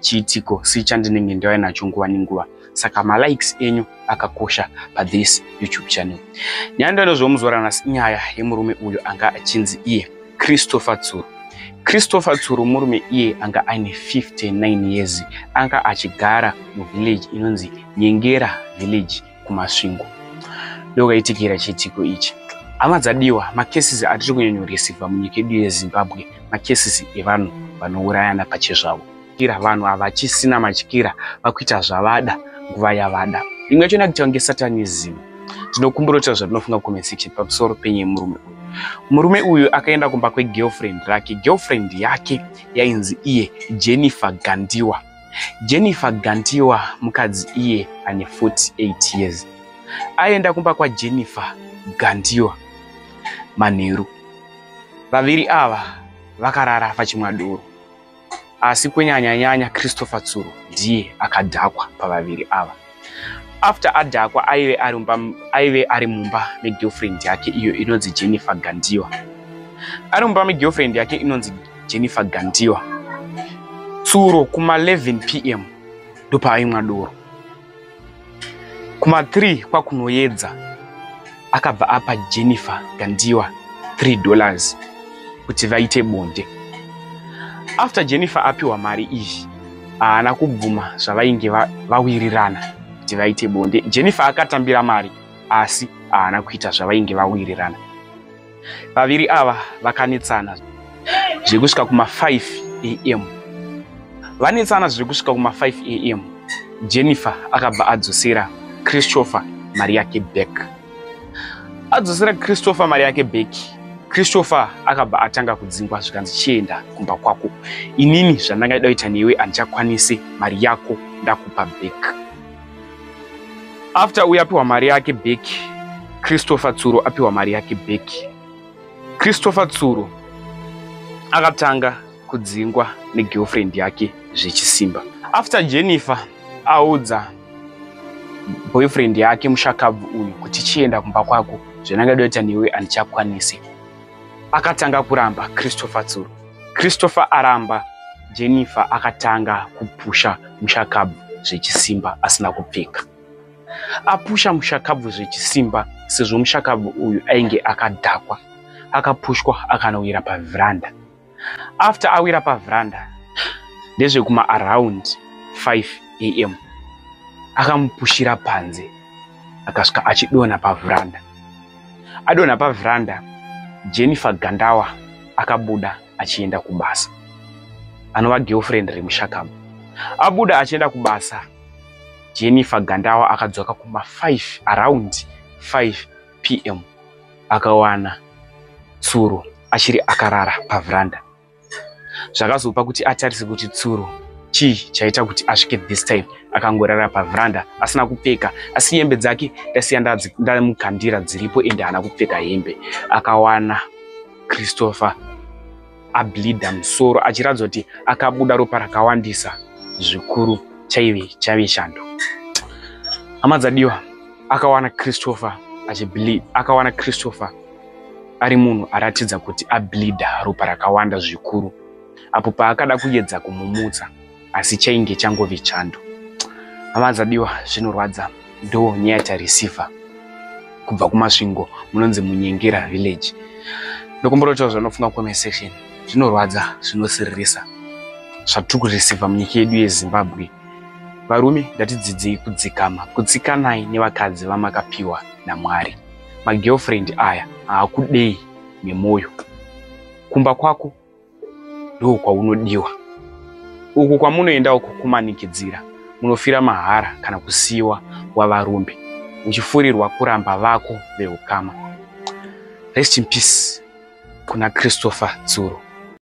chiitiko si chandinenge ndave nacho nguva nenguva saka malikes enyu akakosha pathis youtube channel nyaya ndanozomuzora nhasi nyaya yemurume uyo anga achinzi iye christopher tsuru christopher tsuru murume iye anga aine 59 years anga achigara muvillage inonzi nyengera village kumasvingo ndokaitikira chiitiko ichi hama dzadiwa makesisi atiri kunyanyoresivha munyika yedu yezimbabwe makesisi evanhu vanourayana pachezvavo kira vanhu havachisina matyira vakuita zvavada nguva yavada imwe yacho ndakuitawa ngesatanism tinokumbira kutaura zvatinofunga comment section pamusoro penye murume uyu murume uyu akaenda kumba kwegirlfriend rake girlfriend yake yainzi iye jennifer gandiwa Jennifer Gantiwa mukadzi iye ane 48 years aenda kumba kwaJennifer Gantiwa manheru. Vaviri ava vakarara pachimwa doro asi kunyanya nyanya Christopher Tsuro ndiye akadhakwa pavaviri ava. after adhakwa aive ari mumba aive ari mumba megirlfriend yake iyo inonzi jennifer gandiwa ari mumba megirlfriend yake inonzi jennifer gandiwa tsuro kuma 11 p m ndopaaimwa doro kuma 3 kwakunoyedza akabva apa jennifer gandiwa 3 dollars kuti vaite bonde after jennifer apiwa mari iyi haana kubvuma zvavainge vawirirana va kuti vaite bonde jennifer akatambira mari asi haana kuita zvavainge vawirirana vaviri ava vakanetsana zviri kusvika kuma 5 am vanetsana zviri kusvika kuma 5 am jennifer akabva adzosera christopher mari yake back adzosera christopher mari yake back christopher akabva atanga kudzingwa zvikanzi chienda kumba kwako inini zvandanga ida kuita newe handichakwanisi mari yako ndakupa back after uyu apiwa mari yake back christopher tsuro apiwa mari yake back christopher tsuro akatanga kudzingwa negirlfriend yake zvechisimba after jennifer audza boyfriend yake mushakabvu uyu kuti chienda kumba kwako zvenangadoita newe handichakwanisi akatanga kuramba Christopher tsuro. Christopher aramba Jennifer akatanga kupusha mushakabvu zvechisimba asina kupfeka. Apusha mushakabvu zvechisimba sezvo mushakabvu uyu ainge akadhakwa. Akapushwa akanowira paveranda after awira pavranda ndezvekuma around 5 am akamupushira panze akasvika achidonha pavranda adonha pavranda jennifer gandawa akabuda achienda kubasa anova girlfriend remushakama abuda achienda kubasa jennifer gandawa akadzoka kuma 5 around 5 pm akawana tsuro achiri akarara pavhuranda zvakazopa kuti atarise kuti tsuro chii chaita kuti asvike this time akangorara pavhuranda asina kupfeka asi hembe dzake ndasiya ndamukandira dziripo ende haana kupfeka hembe akawana christopher ableeder musoro achiratidza kuti akabuda ropa rakawandisa zvikuru chaive chaive chando hama dzadiwa akawana christopher achibleed akawana christopher ari munhu aratidza kuti ableeder ropa rakawanda zvikuru apo paakada kuyedza kumumutsa asi chainge changove chando hama dzadiwa zvinorwadza ndo nyaya tareceiver kubva kumasvingo munonzi munyengera village ndokumborotaura zvanofunga comment section zvinorwadza zvinosiririsa zvatiri kureceiver munyika yedu yezimbabwe varume ndatidzidzei kudzikama kutsikanai nevakadzi vamakapiwa namwari magirlfriend aya haakudei nemwoyo kumba kwako ndoo kwaunodiwa uku kwamunoenda uku kumanikidzira munofira mahara kana kusiiwa wavarumbi uchifurirwa kuramba vako veukama rest in peace kuna christopher tsuro